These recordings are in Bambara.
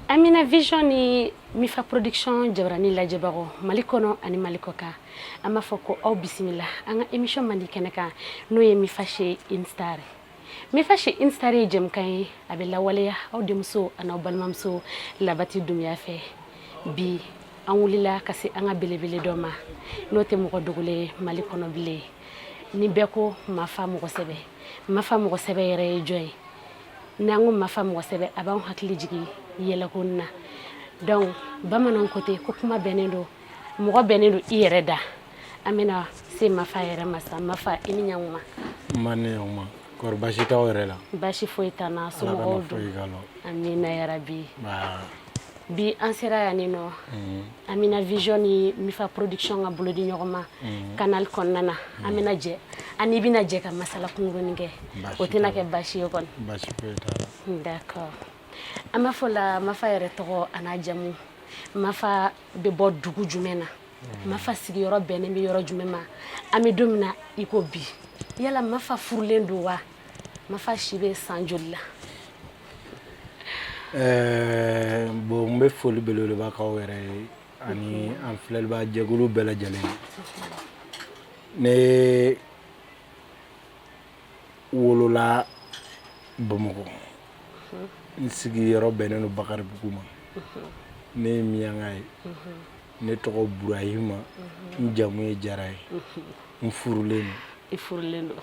Amina Vision ni Mifa Production jabarani lajɛbagaw Mali kɔnɔ ani Mali kɔkan an b'a fɔ ko aw bisimila an ka émission mandi kɛnɛ kan n'o ye Mifa Chez Une Star Mifa Chez Une Star ye jɛmukan ye a bɛ lawaleya aw denmuso ani balimamuso labati dumuya fɛ bi an wulila ka se an ka belebele dɔ ma n'o tɛ mɔgɔ dogolen ye mali kɔnɔ bilen ni bɛɛ ko mafa mɔgɔsɛbɛ mafa mɔgɔsɛbɛ yɛrɛ ye jɔn ye n'an ko mafa mɔgɔsɛbɛ a b'an hakili jigin yɛlɛko na donc bamanan ko ten ko kuma bɛnnen don mɔgɔ bɛnnen don i yɛrɛ da an bɛna se mafa yɛrɛ ma sa mafa i ni ɲakuma ma ne ɲakuma kɔri baasi t'aw yɛrɛ la baasi foyi t'an na somɔgɔw dun amina yarabi bi an sera yan nin nɔ mm. Amina Vision ni Mifa Production ka bolodi ɲɔgɔn ma mm. canal kɔnɔna na mm. an bɛna jɛ an n'i bɛna jɛ ka masala kunkurunin kɛ o tɛna kɛ baasi ye kɔni baasi foyi t'a la d'accord an b'a fɔ la mafa yɛrɛ tɔgɔ an'a jamu mafa bɛ bɔ dugu jumɛn na mafa sigiyɔrɔ bɛnnen bɛ yɔrɔ jumɛn ma an bɛ don min na i ko bi yala mafa furulen don wa mafa si bɛ san joli la eh, bon n bɛ foli belebeleba k'aw yɛrɛ ye ani an filɛlibaa jɛkulu bɛɛ lajɛlen ne wolola bamakɔ n sigiyɔrɔ bɛnnen don bakaribugu ma ne ye miyanka ye ne tɔgɔ burahima n jamu ye jara ye n furulen don i furulen don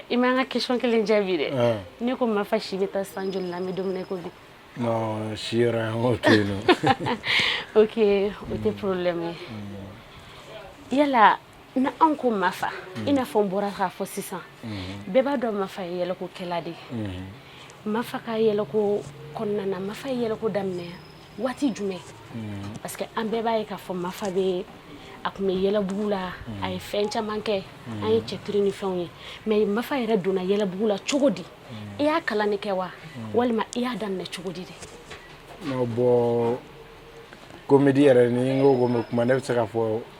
i ma n ka question kelen jaabi dɛ ne ko mafa si bɛ taa san joli la bɛ don min na i ko bi si okay o tɛ problème ye yala n'an ko mafa i n'a fɔ n bɔra k'a fɔ sisan bɛɛ b'a dɔn mafa ye yɛlɛkokɛla de ye mafa ka yɛlɛko kɔnɔna na mafa ye yɛlɛko daminɛ waati jumɛn hmm. parce que an bɛɛ b'a ye k'a fɔ mafa bɛ a tun bɛ yɛlɛbugu la hmm. a ye fɛn caman kɛ an ye cɛtiri ni fɛnw ye mais mafa yɛrɛ donna yɛlɛbugu la cogo di i y'a kalan de kɛ wa walima i y'a daminɛ cogo di de bon komedi yɛrɛ ni n ko ko n bɛ kuma ne bɛ se k'a fɔ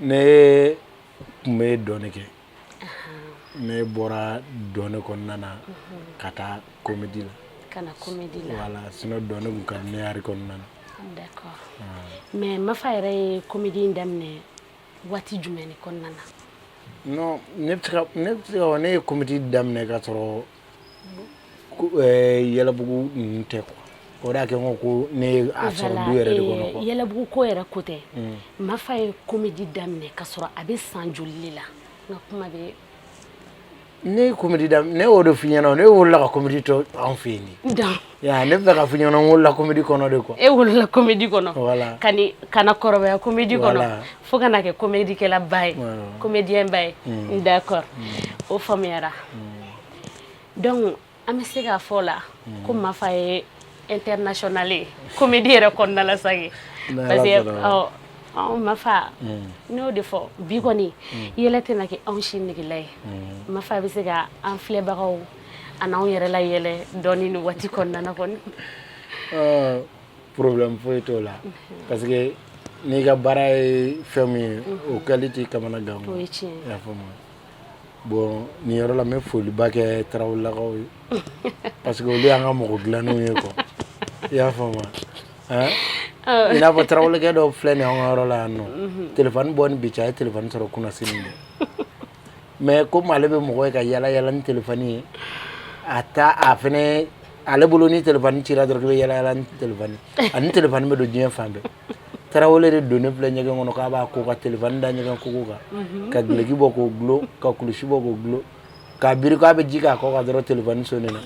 ne tun bɛ dɔn de kɛ ne bɔra dɔn de kɔnɔna na ka taa komedi la ka na komedi la voilà sinon dɔn de tun ka di ne ye art kɔnɔna na d'accord mais Mafa yɛrɛ ye komedi in daminɛ waati jumɛn de kɔnɔna na non ne bɛ se ka ne bɛ se k'a fɔ ne ye komedi daminɛ ka sɔrɔ Yɛlɛbugu tɛ o y'a kɛ ko ko ne yɛlɛbugu ko yɛrɛ ko tɛ Mafa ye comédie daminɛ ka sɔrɔ a bɛ san joli la nka kuma bɛ ne comédie daminɛ ne y'o de fɔ i ɲɛna ne wolola ka comédie to anw fɛ yen Ya ne bɛ k'a fɔ i ɲɛna n wolola comédie kɔnɔ dɛ ko e wolola comédie kɔnɔ voilà ka ni ka na kɔrɔbaya comédie kɔnɔ voilà. fo ka na kɛ comédie kɛla ba ye voilà. comédien ba ye mm. d'accord mm. o faamuyara mm. donc an bɛ se k'a fɔ la mm. ko mafa ye international ye comédie yɛrɛ kɔnɔna la sage parce que ɔ anw mafa mm. ne y'o de fɔ bi kɔni mm. yɛlɛ tɛna kɛ anw si negela ye mm. mafa bɛ se ka an filɛbagaw An'an yɛrɛ layɛlɛ dɔɔnin nin waati kɔnɔna na kɔni problème foyi t'o la parce que n'i ka baara ye fɛn min ye o kɛli t'i kamana gan i y'a faamu bon nin yɔrɔ la n bɛ foliba kɛ tarawelelakaw ye parce que olu y'an ka mɔgɔ dilannenw ye kɔ i y'a faamu i n'a fɔ tarawelekɛ dɔ filɛ nin an ka yɔrɔ la yan nɔ téléphone bɔ ni bi cɛ a ye téléphone sɔrɔ kunasini Mais comme ale bɛ mɔgɔ ye ka yala yala ni téléphone ye a ta a fɛnɛ ale bolo ni téléphone cila dɔrɔn k'i bɛ yala yala ni téléphone ye ani téléphone bɛ don diɲɛ fan bɛɛ Tarawele de donnen filɛ ɲɛgɛn kɔnɔ k'a b'a ko ka téléphone da ɲɛgɛn koko kan unhun ka guloki bɔ k'o dulon ka kulusi bɔ k'o dulon k'a biri k'a bɛ ji k'a kɔ kan dɔrɔn téléphone sonnena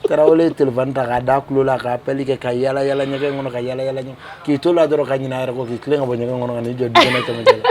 Tarawele ye téléphone ta k'a d'a tulo la ka appel kɛ ka yala yala ɲɛgɛn kɔnɔ ka yala yala ɲɛgɛn k'i t'o la dɔrɔn ka ɲinɛ a yɛrɛ kɔ k'i tilen ka bɔ ɲɛgɛn kɔnɔ ka n'i jɔ dukɛnɛ cɛmancɛ la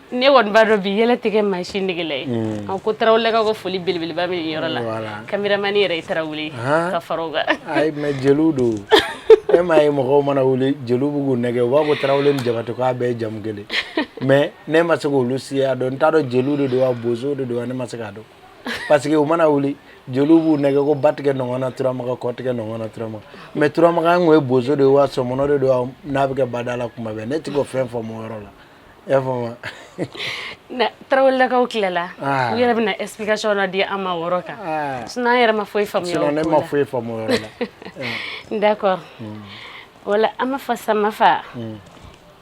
ne kɔni b'a dɔn bi yɛlɛ tɛ kɛ maa si negela ye mm. an ko tarawelelakaw ka foli belebeleba bɛ nin yɔrɔ la kameramani yɛrɛ ye tarawele ka fara o kan ayi mais jeliw don e m'a ye mɔgɔw mana wuli jeliw b'u k'u nɛgɛ u b'a fɔ tarawele ni jabatɛ k'a bɛɛ ye jamu kelen mais ne ma se k'olu siya dɔn n t'a dɔn jeliw de don wa bozow de don wa ne ma se k'a dɔn parce que u mana wuli jeliw b'u nɛgɛ ko ba tigɛ nɔgɔn na turamaga kɔ tigɛ nɔgɔn na turamaga mais turamagan kun ye bozo de ye wa sɔmɔnɔ de don wa n'a bɛ kɛ badala kuma bɛɛ ne tɛ k'o fɛn faamu o yɔrɔ la faamu tarawelelakaw tilala u yɛrɛ bɛna explication na di an ma o yɔrɔ kan sinon an yɛrɛ ma foyi faamuya ne ma foyi faamu d'accord voilà an Mafa sa Mafa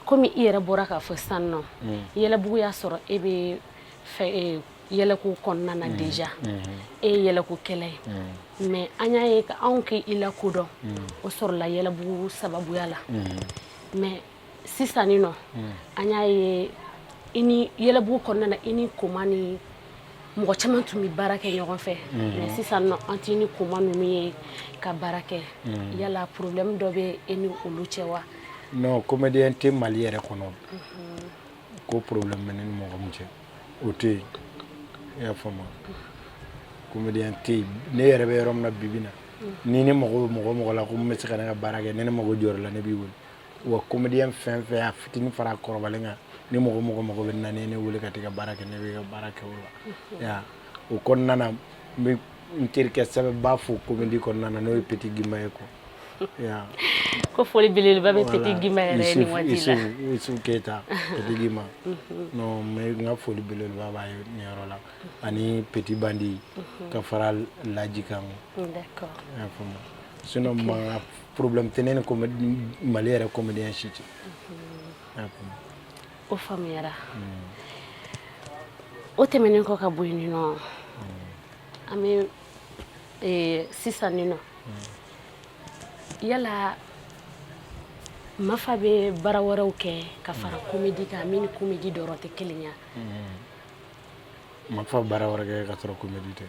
kɔmi i yɛrɛ bɔra k'a fɔ san nɔ yɛlɛbugu y'a sɔrɔ e bɛ yɛlɛko kɔnɔna na déjà e ye yɛlɛko kɛla ye mais an y'a ye anw k'i lakodɔn o sɔrɔla yɛlɛbugu sababuya la mais sisan nin nɔ hmm. an y'a ye i ni yɛlɛbugu kɔnɔna na i ni koma ni mɔgɔ caman tun bɛ baara kɛ ɲɔgɔn fɛ hmm. mais sisan nin nɔ an t'i ni koma ninnu ye ka baara kɛ hmm. yala problème dɔ bɛ e ni olu cɛ wa non comédien tɛ mali yɛrɛ kɔnɔ ko problème bɛ ne ni mɔgɔ min cɛ o tɛ yen i y'a faamu comédien tɛ yen ne yɛrɛ bɛ yɔrɔ min na bibi na ni ne mago bɛ mɔgɔ o mɔgɔ la ko n bɛ se ka ne ka baara kɛ ni ne mago jɔra i la ne b'i wele wa comédien fɛn o fɛn a fitinin fara kɔrɔbalen kan ni mɔgɔ o mɔgɔ mago bɛ n na ne wele ka t'i ka baara kɛ ne b'i ka baara kɛ o la o kɔnɔna na n bɛ n terikɛ sɛbɛnba fo komedi kɔnɔna na n'o ye peti gima ye quoi ko foli belebeleba bɛ peti gima yɛrɛ ye nin waati la isu keyita peti gima non mais n ka foli belebeleba b'a ye nin yɔrɔ la ani peti bandi ka fara laji kan d'accord sinon mankan problème tɛ ne ni comé Mali yɛrɛ comédien si cɛ unhun i y'a faamu o faamuyara unnn o tɛmɛnen kɔ ka bɔ yen nin nɔ unnn an bɛ ee sisan nin nɔ unnn yala Mafa bɛ baara wɛrɛw kɛ ka fara comédie kan min ni comédie dɔrɔn tɛ kelen ye a unnn Mafa baara wɛrɛ kɛ ka sɔrɔ comédie tɛ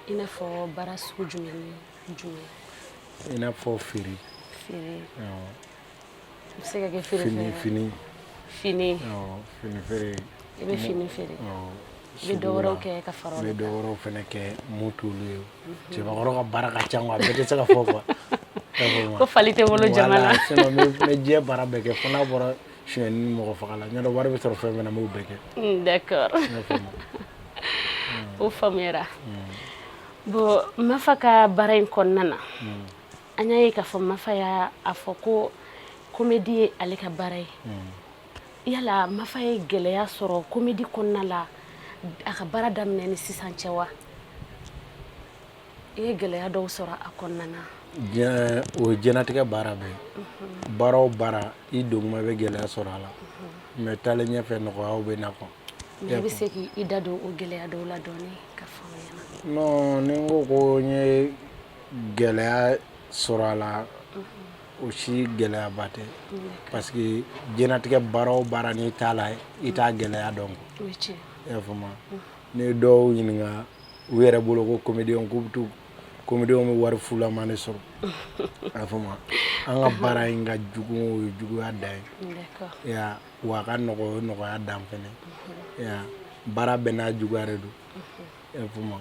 i n'a fɔ baara sugu jumɛn ni i n'a fɔ feere fini fini fini feere i bɛ fini feere i bɛ dɔ wɛrɛw kɛ ka fara o kan n bɛ dɔ wɛrɛw fana kɛ mun t'olu ye cɛbakɔrɔ ka baara ka ca a bɛɛ tɛ se ka fɔ quoi ko fali tɛ wolo jama la n bɛ diɲɛ baara bɛɛ kɛ fo n'a bɔra sonyani ni mɔgɔ faga la n'o tɛ wari bɛ sɔrɔ fɛn fɛn na n b'o bɛɛ kɛ o faamuyara Bon mafa ka baara in kɔnɔna na an y'a ye k'a fɔ mafa y'a fɔ ko komedi ye ale ka baara ye yala mafa ye gɛlɛya sɔrɔ komedi kɔnɔna la a ka baara daminɛ ni sisan cɛ wa i ye gɛlɛya dɔw sɔrɔ a kɔnɔna na o diɲɛlatigɛ baara bɛɛ baara o baara i don kuma i bɛ gɛlɛya sɔrɔ a la mais taalen ɲɛfɛ nɔgɔyaw bɛ na quoi i bɛ se k'i da don o gɛlɛya dɔw la dɔɔnin ni n ko ko n ye gɛlɛya sɔrɔ a la o si gɛlɛyaba tɛ parce que diɲɛlatigɛ baara o baara n'i t'a la i t'a gɛlɛya dɔn a faamu ni dɔw ɲininka u yɛrɛ bolo ko comédien k'u bɛ to comédienw bɛ wari fulama ne sɔrɔ a faamu an ka baara in ka jugu o ye juguya dan ye wa a ka nɔgɔ o ye nɔgɔya dan fɛnɛ ye baara bɛɛ n'a juguya de don i y'a faamu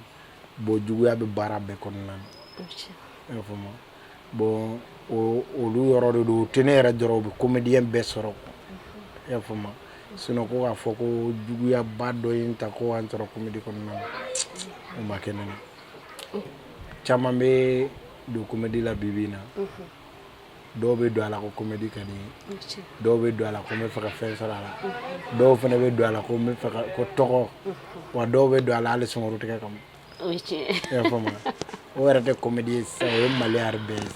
bon juguya bɛ baara bɛɛ kɔnɔna na i y'a faamu bon o olu yɔrɔ de don o tɛ ne yɛrɛ dɔrɔn o bɛ comédien bɛɛ sɔrɔ i y'a faamu sinon ko k'a fɔ ko juguyaba dɔ ye n ta ko an sɔrɔ comédie kɔnɔna na o ma kɛ ne na caman bɛ don comédie la bi bi in na. dɔw bɛ don a la ko comédie ka di n ye, dɔw bɛ don a la ko n bɛ fɛ ka fɛn sɔrɔ a la, dɔw fana bɛ don a la ko n bɛ fɛ ka ko tɔgɔ, wa dɔw bɛ don a la hali sunguru tigɛ kama, o ye tiɲɛ ye, i y'a faamu wa, o yɛrɛ tɛ comédie ye sisan o ye maloya yɛrɛ bɛɛ ye,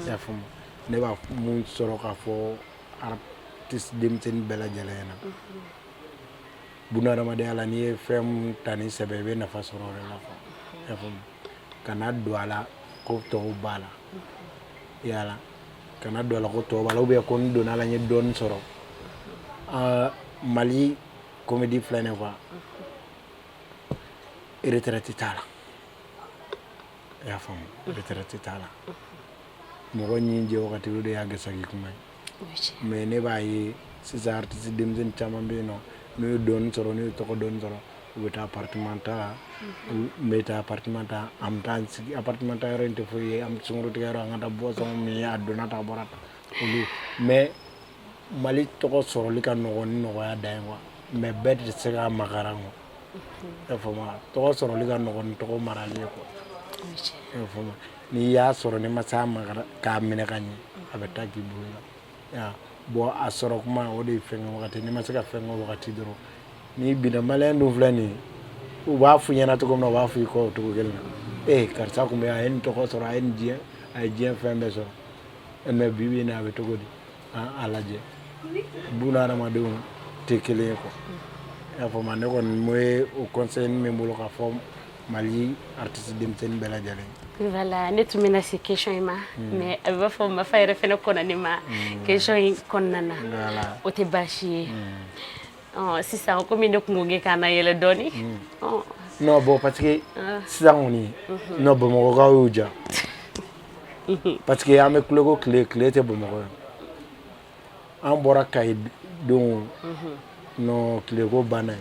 i y'a faamu, ne b'a mun sɔrɔ k'a fɔ artiste denmisɛnnin bɛɛ lajɛlen ɲɛna, bunahadamadenya la n'i ye fɛn ta ni sɛbɛ ye i bɛ nafa sɔrɔ o de la quoi, i y'a faamu kana don a la ko tɔw b'a la yala kana don a la ko tɔw b'a la ou bien ko n donna a la n ye dɔɔni sɔrɔ Mali comédie filɛ nin ye quoi retraite t'a la i y'a faamu retraite t'a la mɔgɔ ɲi jɛ wagati o de y'a gɛsɛ kin kuma ye mais ne b'a ye sisan artiste denmisɛnnin caman bɛ yen non n'u ye dɔɔni sɔrɔ n'u ye tɔgɔ dɔɔni sɔrɔ u bɛ taa appartement ta n bɛ taa appartement ta an bɛ sigi appartement ta yɔrɔ in tɛ foyi ye an bɛ sunguru tigɛ yɔrɔ an ka boisson min a donna ta bɔra mais Mali tɔgɔ sɔrɔli ka nɔgɔ ni nɔgɔya dan ye quoi mais bɛɛ tɛ se k'a makaran i y'a faamu tɔgɔ sɔrɔli ka nɔgɔ ni tɔgɔ mara ye n'i y'a sɔrɔ n'i ma se k'a makaran k'a minɛ ka ɲɛ a bɛ taa k'i bolo la bon a sɔrɔ kuma o de ye fɛn kɛ wagati n'i ma se ka fɛn kɛ wagati dɔrɔn n'i binna maliyɛn dun filɛ nin ye u b'a f'i ɲɛna cogo min na u b'a f'i kɔ o cogo kelen na ee karisa tun bɛ a ye nin tɔgɔ sɔrɔ a ye nin diɲɛ a ye diɲɛ fɛn bɛɛ sɔrɔ mais bi bi in na a bɛ cogo di a lajɛ buna hadamadenw tɛ kelen ye quoi i y'a faamu ne kɔni n bɛ o conseil min bɛ n bolo k'a fɔ Mali artiste denmisɛnnin bɛɛ lajɛlen ye voilà ne tun bɛna se question in ma hmm. mais a b'a fɔ Mafa yɛrɛ fana kɔnna ne ma hmm. question in kɔnɔna na o tɛ baasi ye hmm. sisan komi ne tun ko k'e k'an nayɛlɛ dɔɔni non bon parce que ah. sisan kɔni non Bamakɔkaw y'u ja parce que an bɛ tileko tile tile tɛ Bamakɔ yan an bɔra Kayi don non tileko banna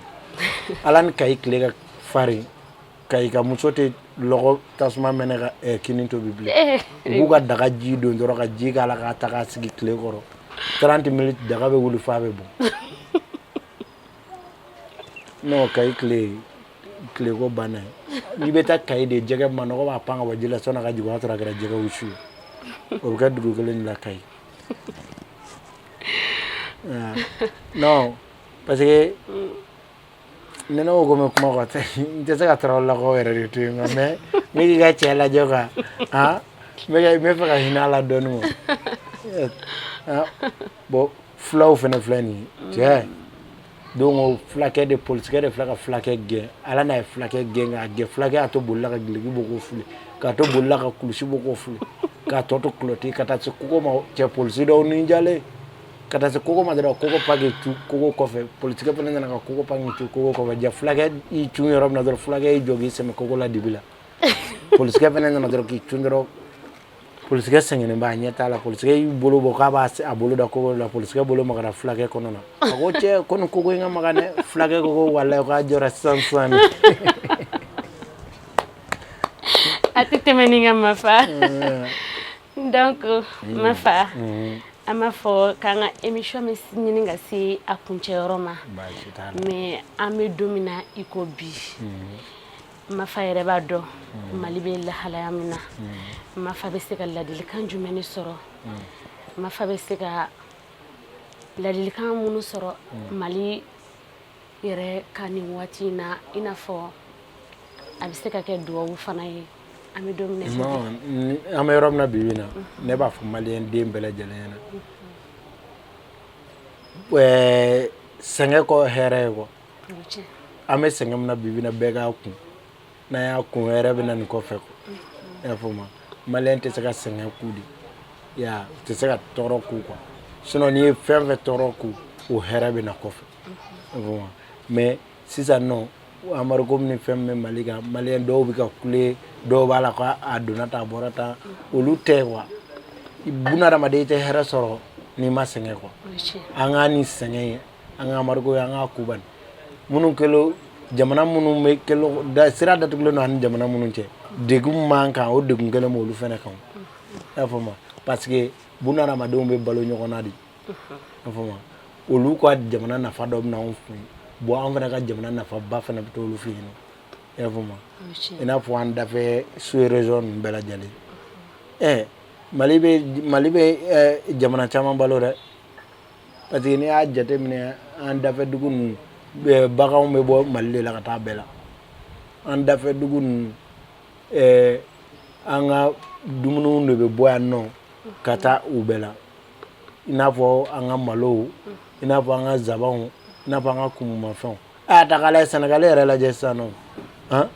ala ni Kayi tile ka farin Kayi ka muso tɛ lɔgɔ tasuma mɛnɛ ka kini tobi bilen u b'u ka daga ji don dɔrɔn ka ji k'a la k'a ta k'a sigi tile kɔrɔ 30 minutes daga bɛ wuli f'a bɛ bɔn Non Kayi tileko banna n'i bɛ taa Kayi de jɛgɛ manɔgɔ b'a pan ka bɔ ji la sanni a ka jigin o y'a sɔrɔ a kɛra jɛgɛ wusu ye o bɛ kɛ dugu kelen de la Kayi parce que ne ko bɛ kuma kɔ n tɛ se ka Tarawelelakaw yɛrɛ de to yen mais n b'i ka cɛ lajɛ quoi n bɛ fɛ ka hinɛ a la dɔɔnin quoi Bon fulaw fana filɛ nin ye cɛ donc fulakɛ de polisikɛ de filɛ ka fulakɛ gɛn ala n'a ye fulakɛ gɛn k'a gɛn fulakɛ y'a to boli la ka dulɔki bɔ k'o fili k'a to boli la ka kulusi bɔ k'o fili k'a tɔ to kulɔti ka taa se kogo ma cɛ polisi dɔw ni jalen ka taa se kogo ma dɔrɔn kogo pan k'i cun kogo kɔfɛ polisikɛ fana nana ka kogo pan k'i cun kogo kɔfɛ fulakɛ y'i cun yɔrɔ min na dɔrɔn fulakɛ y'i jɔ k'i sɛmɛ kogo la dibi la polisikɛ fana nana dɔrɔn k'i cun dɔrɔn polisikɛ sɛgɛnnen b'a ɲɛ t'a la polisikɛ y'i bolo bɔ k'a b'a bolo da kogo la polisikɛ bolo magara fulakɛ kɔnɔ na a ko cɛ ko nin kogo in ka magan dɛ fulakɛ ko ko walayi k'a jɔra sisan sisan de a tɛ tɛmɛ nin kan mafa donc mafa an b'a fɔ k'an ka émission bɛ ɲini ka se a kuncɛyɔrɔ ma mais an bɛ don min na i ko bi mafa yɛrɛ b'a dɔn mm. mali bɛ lahalaya min na mm. mafa bɛ se ka ladilikan jumɛn ne sɔrɔ mm. mafa bɛ se ka ladilikan minnu sɔrɔ mali yɛrɛ ka nin waati in na i n'a fɔ a bɛ se ka kɛ duwawu fana ye an bɛ don min na an bɛ yɔrɔ min na bi bi in na mm-hmm. ne b'a fɔ maliyɛn den bɛɛ lajɛlen ɲɛna mm-hmm. sɛgɛn kɔ hɛrɛ ye quoi an bɛ sɛgɛn min na bi bi in na bɛɛ k'a kun n'an y'a kun hɛrɛ bɛ na nin kɔfɛ i y'a faamu maliyɛn tɛ se ka sɛgɛn kun de ya u tɛ se ka tɔɔrɔ kun quoi sinon n'i ye fɛn fɛn tɔɔrɔ kun o hɛrɛ bɛ na kɔfɛ i y'a faamu mais sisan nɔ amadu komi ni fɛn min bɛ mali kan maliyɛn dɔw bɛ ka kule dɔw b'a la ko a donna tan a bɔra tan olu tɛ quoi bunadamaden i tɛ hɛrɛ sɔrɔ n'i ma sɛgɛn quoi an k'a ni sɛgɛn ye an ka amadu an k'a kun bani minnu kɛlen jamana minnu bɛ kɛlen da sira datugulen don ani jamana minnu cɛ degun b'an kan o degun kelen b'olu fana kan i y'a faamu parce que bunadamadenw bɛ balo ɲɔgɔn na de i y'a faamu olu ka jamana nafa dɔ bɛ na anw fɛ yen bon an fana ka jamana nafaba fana bɛ t'olu fɛ yen i y'a faamu i n'a fɔ an dafɛ sous-région ninnu bɛɛ lajɛlen ɛɛ mali bɛ mali bɛ jamana caman balo dɛ Parce que n'i y'a jateminɛ an dafɛ dugu ninnu eh, baganw bɛ bɔ Mali de la ka taa bɛɛ la an dafɛ dugu ninnu eh, an ka dumuniw de bɛ bɔ yan nɔ ka taa u bɛɛ la i n'a fɔ an ka malow i n'a fɔ an ka zabanw i n'a fɔ an ka kumumafɛnw a y'a ta k'a lajɛ sɛnɛgali yɛrɛ lajɛ sisan nɔ han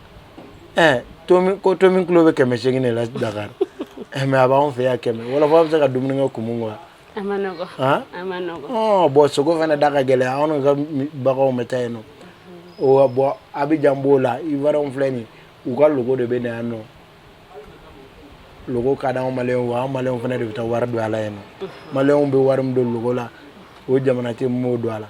eh, tomi ko tomi kilo bɛ kɛmɛ seegin de la dakari eh, mais a b'anw fɛ yan kɛmɛ wɔlɔfɔ bɛ se ka dumuni kɛ kumu kɔ wa a ma nɔgɔ han a ma nɔgɔ ɔɔ bon sogo fana da ka gɛlɛn anw ka baganw bɛ taa yen nɔ o bon abidjan b'o la ivoiriens filɛ nin u ka logo de bɛ na yan nɔ logo ka di anw maliyɛnw wa anw maliyɛnw fana de bɛ taa wari don a la yen nɔ maliyɛnw bɛ wari min don logo la o jamana tigi m'o don a la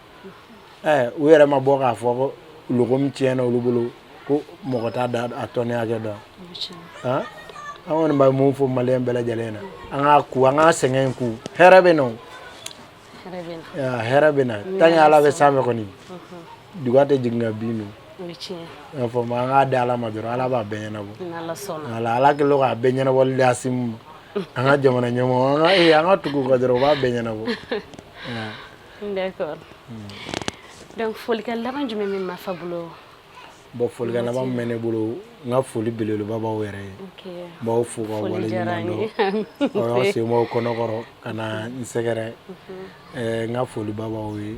ɛɛ u yɛrɛ ma bɔ k'a fɔ ko logo min tiɲɛna olu bolo ko mɔgɔ t'a da a tɔni hakɛ dɔn an kɔni bɛ mun fɔ maliyɛn bɛɛ lajɛlen na an k'a ku an k'a sɛgɛn in ku hɛrɛ bɛ na o hɛrɛ bɛ na tant que ala bɛ sanfɛ kɔni duga tɛ jigin ka bin dun i y'a faamu wa an k'a di ala ma dɔrɔn ala b'a bɛɛ ɲɛnabɔ ala ala kelen don k'a bɛɛ ɲɛnabɔli di asimi ma an ka jamana ɲɛmɔgɔ an ka ee an ka tugu u kɔ dɔrɔn u b'a bɛɛ ɲɛnabɔ d'accord hmm. donc folikan laban jumɛn bɛ mafa bolo bon folikan laban min bɛ ne bolo n ka foli belebeleba b'aw yɛrɛ ye n b'aw fo k'aw waleɲumandɔn aw sen bɔ aw kɔnɔ kɔrɔ ka na n sɛgɛrɛ mhm. eh, n ka foliba b'aw ye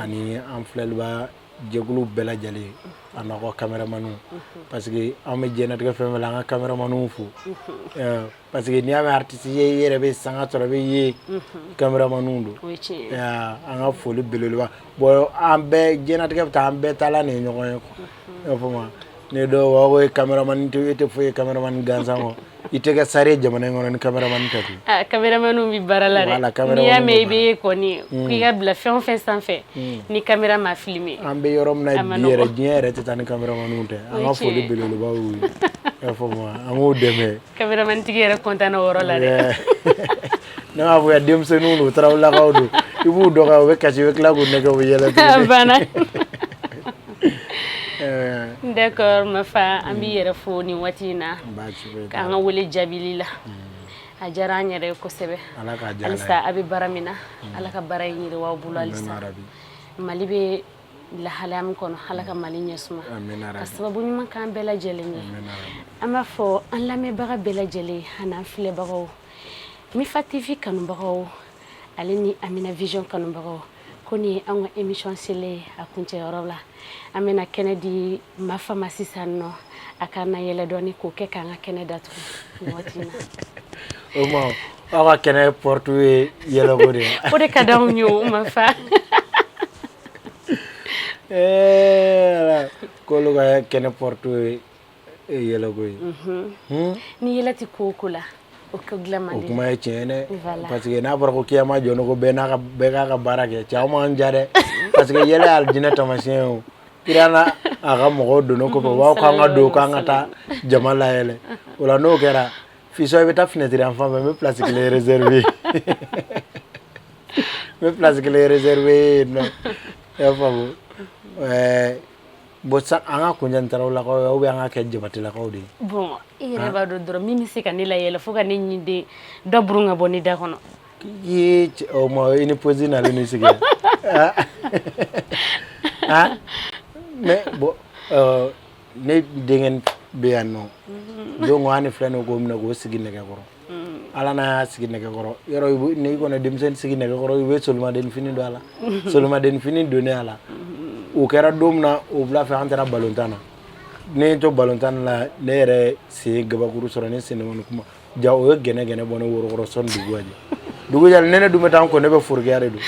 ani an filɛlibaa jɛkulu bɛɛ lajɛlen a n'aw ka cameramans parce que an bɛ diɲɛlatigɛ fɛn o fɛn la an ka cameramans fo parce que n'i y'a mɛn artiste ye i yɛrɛ bɛ sanga sɔrɔ i bɛ ye cameramans don an ka foli belebeleba b'u ye an bɛɛ diɲɛlatigɛ bɛ tan an bɛɛ taalan de ye ɲɔgɔn ye quoi i y'a faamu wa. Ne dɔw b'a fɔ e ye cameraman tɛ e tɛ foyi ye cameraman gansan kɔ, i tɛ kɛ star ye jamana in kɔnɔ ni cameraman tɛ koyi, aa cameraman bɛ baara la dɛ, voilà cameraman n'i y'a mɛn i bɛ ye kɔni ko i ka bila fɛn o fɛn sanfɛ ni camera ma filmer an bɛ yɔrɔ min na bi yɛrɛ diɲɛ yɛrɛ tɛ taa ni cameraman tɛ, o ye tiɲɛ ye, an ka foli belebeleba b'u ye, i y'a faamu wa, an k'u dɛmɛ, cameraman tigi yɛrɛ content na o yɔrɔ la dɛ Ne b'a fɔ yan denmisɛnninw don tarawelelakaw don i b'u dɔn u bɛ kasi i bɛ tila k'u nɛgɛn u yɛlɛ d'accord mafa an b'i yɛrɛ fo nin waati in na k'an ka wele jaabili la a diyara an yɛrɛ kosɛbɛ halisa a bɛ baara min na ala ka baara in yiriwa a bolo halisa mali bɛ lahala min kɔnɔ ala ka mali ɲɛ suma ka sababu ɲuman k'an bɛɛ lajɛlen ye an b'a fɔ an lamɛnbaga bɛɛ lajɛlen ani filɛbagaw Mifa TV kanubagaw ale ni Amina Vision kanubagaw kɔni an ka émission selen a kuncɛyɔrɔ la an bɛna kɛnɛ di Mafa ma sisan nɔ a ka na yɛlɛ dɔɔni k'o kɛ k'an ka kɛnɛ datugu aw kɛnɛ partout ye yɛlɛ o de ka di anw ye o Mafa ɛɛ kolo kɛnɛ partout ye e ye yɛlɛ koyi ye ni yɛlɛ tɛ ko o ko la o ko dilan man di o kuma ye tiɲɛ dɛ parce que n'a fɔra ko kiyama jɔn ko bɛɛ n'a bɛɛ k'a ka baara kɛ cɛ aw man diya dɛ parce que yɛlɛ ye alijinɛ tamasiyɛn o kira n'a ka mɔgɔw don kɔfɛ b'aw k'an ka don k'an ka taa jama layɛlɛ o la n'o kɛra fisɔ i bɛ taa finɛtiri an fan fɛ n bɛ pilasi kelen rezɛriwe n bɛ pilasi kelen rezɛriwe yen nɔ i y'a faamu ɛɛ Bon sa an ka kunjan tarawelelakaw bɛ an ka kɛ jabatɛlakaw de bɔn e yɛrɛ b'a dɔn dɔrɔn min bɛ se ka ne layɛlɛ fo ka ne ɲinden dɔ burun ka bɔ ne da kɔnɔ i i ni posi nalen i sigi mais bon ne denkɛ bɛ yan nɔ don ko an ni filɛ k'o minɛ k'o sigi nɛgɛ kɔrɔ Ala n'a y'a sigi nɛgɛ kɔrɔ yɔrɔ n'i kɔni denmisɛn sigi nɛgɛ kɔrɔ i bɛ solimaden fini don a la solimaden fini don a la o kɛra don min na o wula fɛ an taara balontan na ne ye to balontan la ne yɛrɛ sen gabakuru sɔrɔ ne sen kuma ja o ye gɛnɛgɛnɛ bɔ ne woro kɔrɔ sɔn dugujɛ ne ne dun bɛ taa ko ne bɛ forokiya de don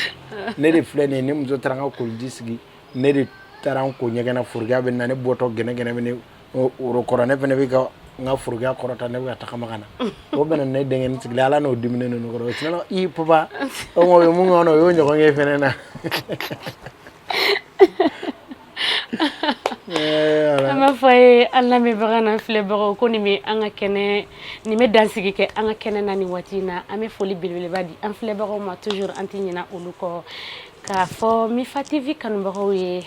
ne de filɛ nin ne muso taara n ka koliji sigi ne de taara n ko ɲɛgɛn na forokiya bɛ na ne bɔtɔ gɛnɛgɛnɛ Ɔ woro kɔrɔ ne fana bɛ ka n ka forokiya kɔrɔta ne bɛ tagama na o bɛnna ne denkɛ sigilen a la n'o dimi ne ninnu kɔrɔ o i papa o ye mun kɔnɔ o y ye ɲɔgɔn k'i fana na an b'a fɔ ye an lamɛnbaga n'an filɛbagaw kɔni n bɛ an ka kɛnɛ nin bɛ dansigi kɛ an ka kɛnɛ na ni waati in na an bɛ foli belebeleba di an filɛbagaw ma toujours an tɛ ɲina olu kɔ k'a fɔ Mifa TV kanubagaw ye